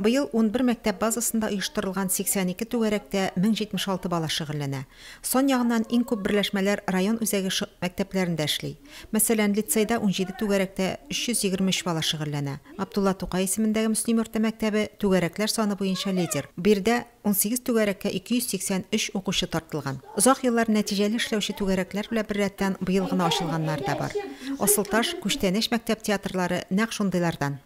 Быел унбер мәктәп базасында оештырылган 82 түгәрәктә 1076 бала шөгыльләнә. Сан ягыннан иң күп берләшмәләр район үзәге шы мәктәпләрендә эшли. Мәсәлән, лицейда унҗиде түгәрәктә 323 бала шөгыльләнә. Габдулла Тукай исемендәге Мөслим орта мәктәбе түгәрәкләр саны буенча лидер. Биредә унсигез түгәрәккә 283 укучы тартылган. Озак еллар нәтиҗәле эшләүче түгәрәкләр белән беррәттән быел гына ачылганнары да бар. Асылташ, Күчтәнәч мәктәп театрлары нәкъ шундыйлардан.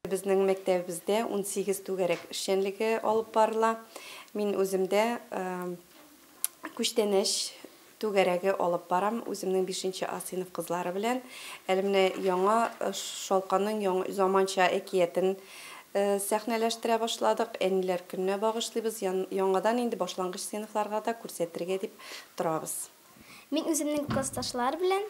Безнең мәктәбебездә унсигез түгәрәк эшчәнлеге алып барыла. Мин үзем дә күчтәнәч түгәрәге алып барам, үземнең бишенче А сыйныф кызлары белән. Әле менә яңа Шалканның заманча әкиятен сәхнәләштерә башладык. Әниләр көненә багышлыйбыз, яңадан инде башлангыч сыйныфларга да күрсәтергә дип торабыз. Мин үземнең классташлар белән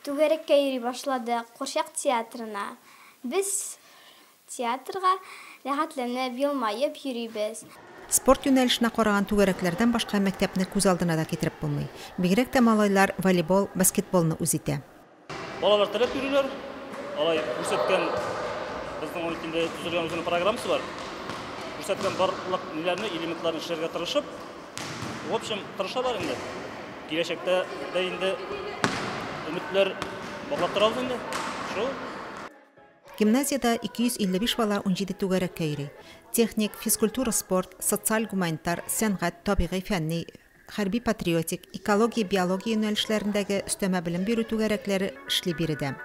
түгәрәккә йөри башладык, курчак театрына. Без театрга рәхәтләнеп, елмаеп йөрибез. Спорт юнәлешенә караган түгәрәкләрдән башка мәктәпне күз алдына да китереп булмый. Бигрәк тә малайлар волейбол, баскетболны үз итә. Балалар теләп йөриләр. Алай күрсәткән безнең ул инде төзелгән үзенең программасы бар. Күрсәткән барлык ниләрне, элементларны эшләргә тырышып, в общем, тырышалар инде. Киләчәктә дә инде өметләр баглап торабыз инде. Шул. Гимназиядә 255 бала унҗиде түгәрәккә йөри. Техник, физкультура-спорт, социаль-гуманитар, сәнгать, табигый, фәнни, хәрби-патриотик, экология-биология юнәлешләрендәге өстәмә белем бирү түгәрәкләре эшли биредә.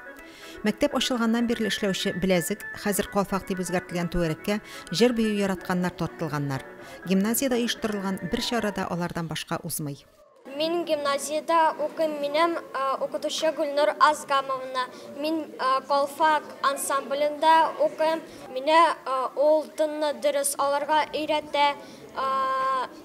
Мәктәп ачылганнан бирле эшләүче Беләзек, хәзер Калфак дип үзгәртелгән түгәрәккә җыр-бию яратканнар тартылганнар. Гимназиядә оештырылган бер чара да алардан башка узмый. Мин гимназиядә укыйм, минем укытучы Гөлнур Азгамовна. Мин Калфак ансамблендә укыйм. Мине ул тынны дөрес алырга өйрәтә.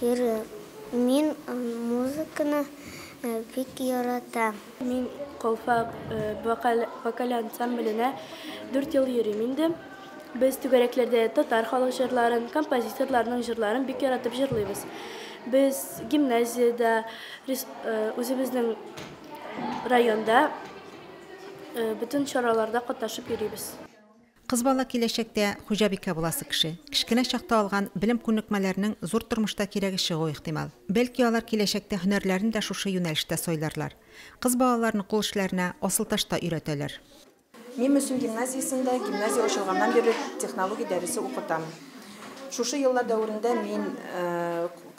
Ире, мин музыканы бик яратам. Мин Колфак вокаль ансамбленә дүрт ел йөрим инде. Без түгәрәкләрдә татар халык җырларын, композиторларның җырларын бик яратып җырлыйбыз. Без гимназиядә, үзебезнең районда бөтен чараларда катнашып йөрибез. Кыз бала киләчәктә хуҗабикә буласы кеше. Кечкенә чакта алган белем-күнекмәләрнең зур тормышта кирәге чыгу ихтимал. Бәлки алар киләчәктә һөнәрләрен дә шушы юнәлештә сайларлар. Кыз балаларны кул эшләренә асылташ та өйрәтәләр. Мин Мөслим гимназиясендә гимназия ачылганнан бирле технология дәресе укытам. Шушы еллар дәверендә мин.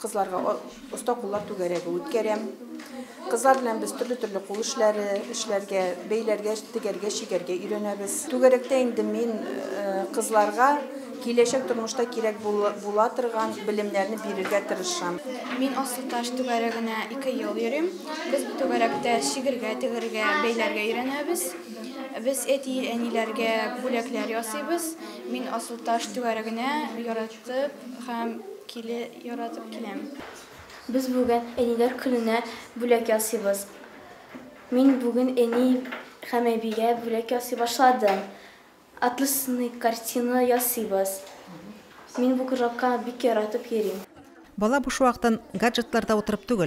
Кызларга оста куллар түгәрәге үткәрәм. Кызлар белән без төрле-төрле кул эшләре эшләргә, бәйләргә, тегәргә, чигәргә өйрәнәбез. Түгәрәктә инде мин кызларга киләчәк тормышта кирәк була торган белемнәрне бирергә тырышам. Мин Аслы Таш түгәрәгенә ике ел йөрим. Без бу түгәрәктә чигергә, тегергә, бәйләргә өйрәнәбез. Без әти-әниләргә бүләкләр ясыйбыз. Мин Аслы Таш түгәрәгенә яратып Тып һәм киле яратып киләм. Без бүген Әниләр көненә бүләк ясыйбыз. Мин бүген әни һәм әбигә бүләк ясый башладым. Атласный картина ясыйбыз. Мин бу кружокка бик яратып йөрим. Бала буш вакытын гаджетларда утырып түгел,